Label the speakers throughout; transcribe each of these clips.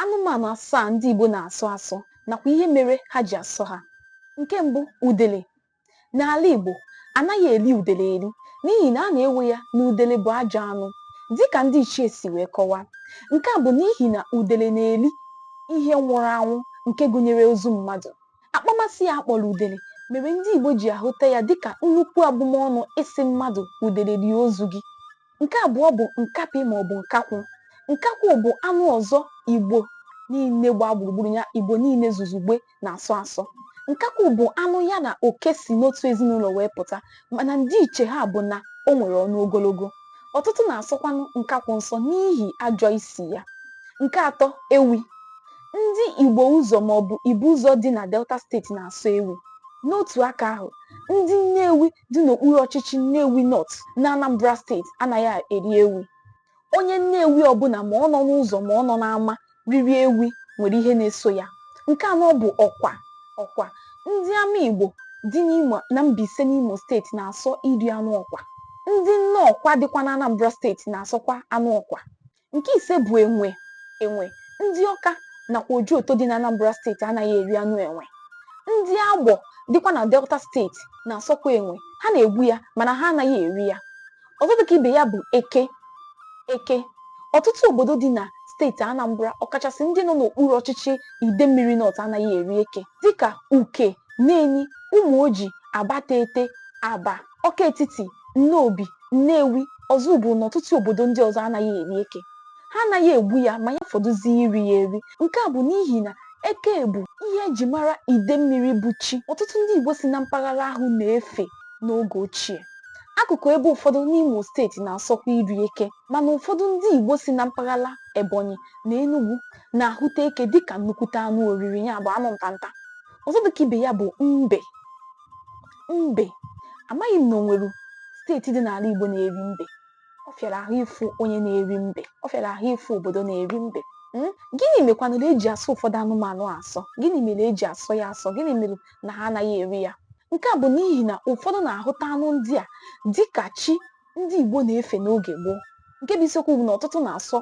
Speaker 1: anụmanụ asaa ndị Igbo na-asọ asọ nakwa ihe mere ha ji asọ ha. Nke mbụ, udele. N'ala Igbo, a naghị eri udele eri n'ihi na a na-ewe ya na udele bụ ajọ anụ, dị ka ndị ichie si wee kọwaa. Nke a bụ n'ihi na udele na-eri ihe nwụrụ anwụ nke gụnyere ozu mmadụ. Akpọmasị a a kpọrọ udele mere ndị Igbo ji ahụta ya dịka nnukwu abụmọnụ ịsị mmadụ udele rie ozu gị. Nke abụọ bụ nkapị ma ọ bụ nkakwụ. Nkakwụ bụ anụ ọzọ Igbo niile gbaa gburugburu ya Igbo niile zuzugbe na-asọ asọ. Nkakwụ bụ anụ ya na oke si n'otu ezinụlọ wee pụta mana ndịiche ha bụ na o nwere ọnụ ogologo. Ọtụtụ na-asọkwanụ nkakwụ nsọ n'ihi ajọ isi ya. Nke atọ, ewi. Ndị Igbo Ụzọ maọbụ Ibu Ụzọ dị na Delta steeti na-asọ ewi. N'otu aka ahụ, ndị Nnewi dị n'okpuru ọchịchị Nnewi North n'Anambra steeti anaghị eri ewi. Onye Nnewi ọbụla ma ọ nọ n'ụzọ ma ọ nọ n'ama riri ewi nwere ihe na-eso ya. Nke anọ bụ ọkwa. Ọkwa. Ndị Amaigbo dị na Mbaise n'Imo steeti na-asọ iri anụ ọkwa. Ndị Nnọkwa dịkwa n'Anambra steeti na-asọkwa anụ ọkwa. Nke ise bụ enwe. Enwe. Ndị Ọka nakwa Ojoto dị n'Anambra steeti anaghị eri anụ enwe. Ndị Agbọ dịkwa na Delta steeti na-asọkwa enwe. Ha na-egbu ya mana ha anaghị eri ya. Ọzọ dịka ibe ya bụ eke. Eke. Ọtụtụ obodo dị na steeti Anambra ọkachasị ndị nọ n'okpuru ọchịchị Idemmiri North anaghị eri eke dịka Uke, Neni, Ụmụoji, Abatete, Aba. Ọka Etiti, Nnobi, Nnewi, Ọzụbụlụ na ọtụtụ obodo ndị ọzọ anaghị eri eke. Ha anaghị egbu ya ma ya fọdụzie iri ya eri. Nke a bụ n'ihi na eke bụ ihe e ji mara Idemmiri bụ chi ọtụtụ ndị Igbo si na mpaghara ahụ na-efe n'oge ochie. Akụkụ ebe ụfọdụ n'Imo steeti na-asọkwa iri eke mana ụfọdụ ndị Igbo si na mpaghara Ebonyi na Enugwu na-ahụta eke dịka nnukwute anụ oriri, ya bụ anụ ntanta. Ọzọ dịka ibe ya bụ mbe. mbe amaghị m na onwere steeti dị n'ala Igbo na-eri mbe ọ fịara ahụ ịfụ onye na-eri mbe ọ fịara ahụ ịfụ obodo na-eri mbe hmm? gịnị mekwanụ na eji asọ ụfọdụ anụmanụ asọ gịnị mere eji asọ ya asọ gịnị mere na ha anaghị eri ya nke a bụ n'ihi na ụfọdụ na-ahụta anụ ndị a dịka chi ndị Igbo na-efe n'oge gboo nke bụ isiokwu bụ na ọtụtụ na-asọ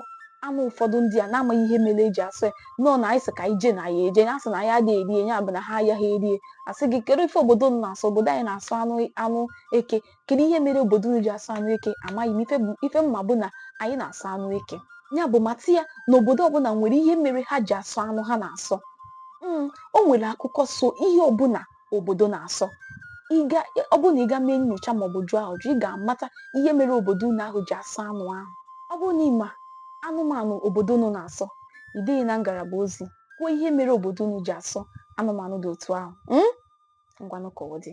Speaker 1: anụ ụfọdụ ndị a na-amaghị ihe mere eji asọ nna anyị sị ka anyị jee na ya eje ya sị na ya adịghị erie ya bụ na ha agaghị erie asị gị kedu ife obodo m na-asọ obodo anyị na-asọ anụ anụ eke kedu ihe mere obodo unu ji asọ anụ eke amaghị m ife bụ- ife m ma bụ na anyị na-asọ anụ eke ya bụ mata ya na obodo ọbụla nwere ihe mere ha ji asọ anụ ha na-asọ Mm, o nwere akụkọ so ihe ọbụla obodo na-asọ ịga ọ bụrụ na ị gaa mee nyocha maọbụ jụọ ajụjụ ị ga-amata ihe mere obodo unu ahụ ji asọ anụ ahụ ọ bụrụ na ị ma anụmanụ obodo unu na-asọ i dee ihe na ngalaba ozi kwuo ihe mere obodo unu ji asọ anụmanụ dị otu ahụ mm? ngwanụ ka ọ dị